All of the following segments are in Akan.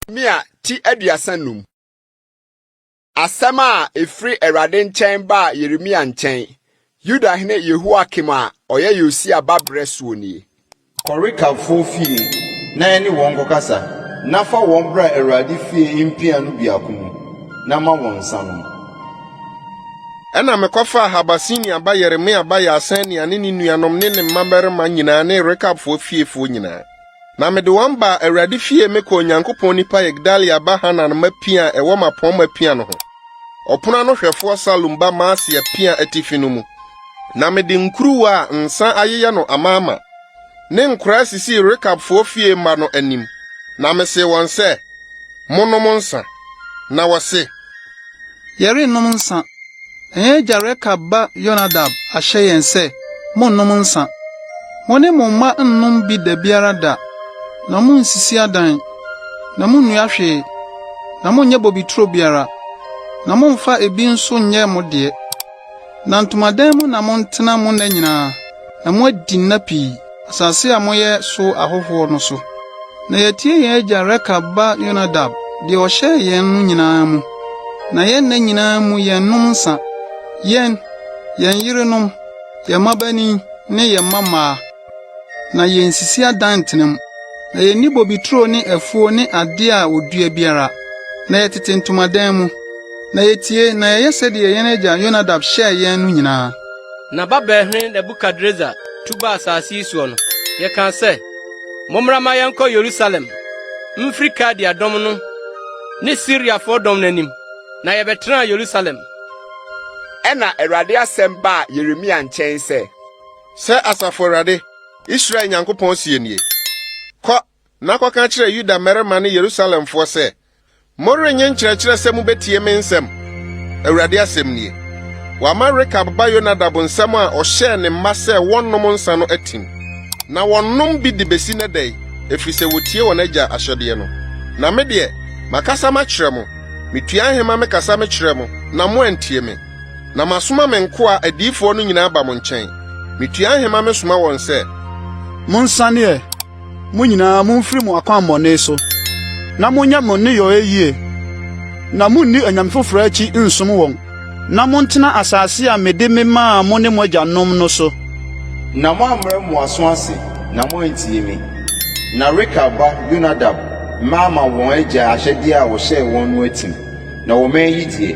Mia ti aduasa num. Asɛm a ɛfiri Awurade nkyɛn baa Yeremia nkyɛn, Yuda hene Yehoiakim a ɔyɛ Yosia ba berɛ soɔ nie. Kɔ Rekabfoɔ fie na ɛne wɔn nkɔkasa, na fa wɔn bra Awurade fie mpia no biako mu, na ma wɔn nsã nnom. Ɛnna mekɔfaa Habasenia ba Yeremia ba Yaasania ne ne nuanom ne ne mmammarima nyinaa ne Rekabfoɔ fiefoɔ nyinaa, na mede wɔn baa Awurade fie, mekɔɔ Onyankopɔn nipa Yigdalia ba Hanan mma pia a ɛwɔ m'apɔmma pia no ho. Ɔpon ano hwɛfoɔ Salum ba Maaseia piaa atifi no mu, na mede nkuruwa a nsã ayeyɛ no amaama ne nkoraa sisii Rekabfoɔ fie mma no anim, na mesee wɔn sɛ, Monnom nsã. Na wɔse, Yɛrennom nsã, na yɛn agya Rekab ba Yonadab ahyɛ yɛn sɛ, 'Monnom nsã. Mo ne mo mma nnom bi da biara da, na munnsisi adan. na munnua hwee, na monnyɛ bobeturo biara, na momfa ebi nso nyɛ mo deɛ. Na ntomadan mu na montena mo nna nyinaa, na moadi nna pii, asase a moyɛ so ahɔhoɔ no so. Na yɛatie yɛn agya Rekab ba Yonadab deɛ ɔhyɛɛ yɛn no nyinaa mu, na yɛn nna nyinaa mu yɛnnom nsã, yɛn, yɛn yerenom, yɛn mmabanin ne yɛn mmammaa. na yensisi adan ntena mu, na yenni bobeturo ne afuo ne ade a wɔdua biara, na yɛtete ntomadan mu, na yetie na yɛyɛ sɛdeɛ yɛn agya Yonadab hyɛɛ yɛn no nyinaa. Na Babelhene Nebukadresar tu baa asase yi soɔ no, yɛkaa sɛ, Mommra mma yɛnkɔ Yerusalem mfiri Kaldea dɔm no ne Siriafoɔ dɔm no anim, na yɛbɛtenaa Yerusalem. Ɛnna Awurade asɛm baa Yeremia nkyɛn sɛ. Sɛ Asafo Awurade, Israel Nyankopɔn seɛ nie, 'Kɔ na kɔka kyerɛ Yuda mmarima ne Yerusalemfoɔ sɛ, Morennye nkyerɛkyerɛ sɛ mobɛtie me nsɛm, Awurade asɛm nie. Wɔama Rekab ba Yonadab nsɛm a ɔhyɛɛ ne mma sɛ wɔnnom nsã no atim, na wɔnom bi de bɛsi nnɛ da yi, ɛfiri sɛ wɔtie wɔn agya ahyɛdeɛ no. Na me deɛ, makasa makyerɛ mo, metuaa nhema mekasa mekyerɛɛ mo, na moantie me. Na masoma me nkoa adiyifoɔ no nyinaa aba mo nkyɛn. Metua ahema mesoma wɔn sɛ. Monsane ɛ, mo nyinaa, momfiri mo akwammɔne so, na monyɛ mo nneyɔɛ yie, na monni anyame foforɔ akyi nsom wɔn, na montena asase a mede memaa mo ne mo agyanom no so. Na moammrɛ mo aso ase, na moantie me. Na Rekab ba Yonadab mma ama wɔn agya ahyɛdeɛ a ɔhyɛɛ wɔn no atim, na wɔmanyi deɛ.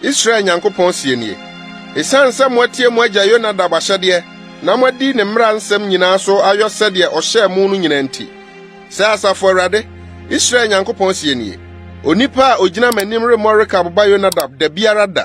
Israel Nyankopɔn seɛ nie, 'Ɛsiane sɛ moatie mo agya Yonadab ahyɛdeɛ na moadi ne mmara nsɛm nyinaa so ayɔ sɛdeɛ ɔhyɛɛ mo no nyinaa nti, sɛ Asafo Awurade, Israel Nyankopɔn seɛ nie, 'Onipa a ɔgyina m'anim remmɔ Rekab ba Yonadab da biara da.